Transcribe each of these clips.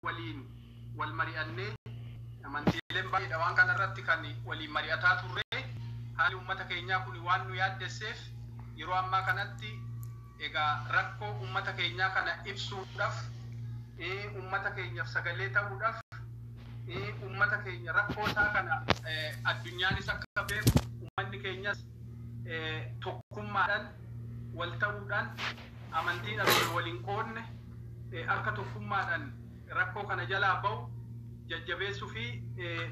waliin wal mari'annee amantiileen baay'eedha waan kana irratti kan waliin mari'ataa turree haalli uummata keenyaa kun waan nu yaaddesseef yeroo ammaa kanatti egaa rakkoo uummata keenyaa kana ibsuudhaaf uummata keenyaaf sagalee ta'uudhaaf uummata keenya rakkoo isaa kana addunyaanis akka beeku uummanni keenyas tokkummaadhaan wal ta'uudhaan amantii dhabame waliin qoodne akka tokkummaadhan rakkoo kana jalaa ba'u jajjabeessu fi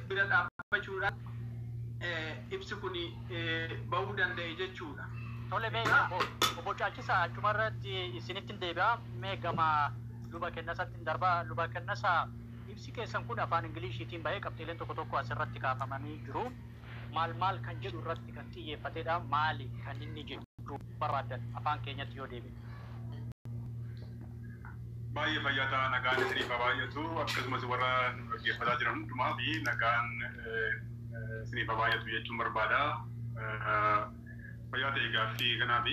bira dhaabbachuudhan ibsi kun ba'uu danda'e jechuudha. Tole mee obbo obbo Caalchisaa achuma irratti isinittin deebi'a. Mee gama luba Kennasaattin darba. Luba Kennasa ibsi keessan kun afaan Ingiliishiitiin ba'ee qabxiileen tokko tokko asirratti kaafamanii jiru. Maal maal kan jedhu irratti kan xiyyeeffatedha. Maali kan inni jechuu barbaaddan afaan keenyatti yoo deebine? Baay'ee fayyaa ta'a nagaan isiniif haa baay'atu akkasumas warra nu dhaggeeffataa jiran hundumaaf nagaan isiniif haa baay'atu jechuun barbaada. Fayyaa ta'e gaaffii kanaaf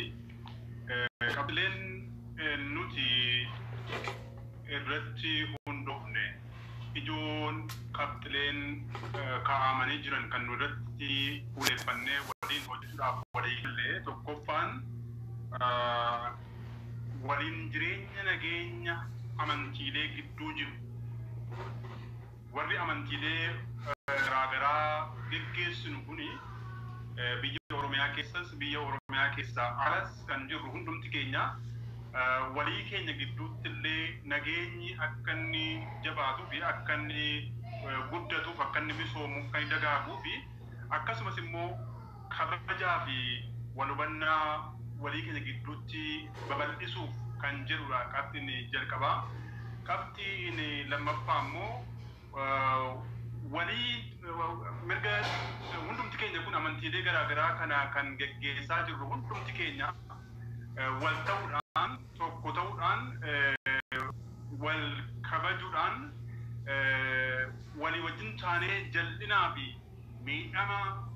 qabxileen nuti irratti hundofne ijoon qabxileen kaa'aamanii jiran kan nu irratti fuuleeffannee waliin hojjechuudhaaf walii galle tokkoffaan waliin jireenya nageenya amantiilee gidduu jiru warri amantiilee garaagaraa geggeessinu kuni biyya Oromiyaa keessas biyya Oromiyaa keessaa alas kan jirru hundumti keenya walii keenya gidduutti illee nageenyi akka inni jabaatuu fi akka inni guddatuuf akka inni misoomuuf akka inni dagaaguu fi akkasumas immoo kabajaa fi wal hubannaa walii keenya gidduutti babal'isuuf kan jedhudha qabxiin jalqabaa. Qabxiin lammaffaa immoo Walii mirga hundumti keenya kun amantiilee garaa garaa kana kan geggeessaa jirru hundumti keenya wal ta'uudhaan tokko ta'uudhaan wal kabajuudhaan walii wajjin taanee jal'inaa fi miidhama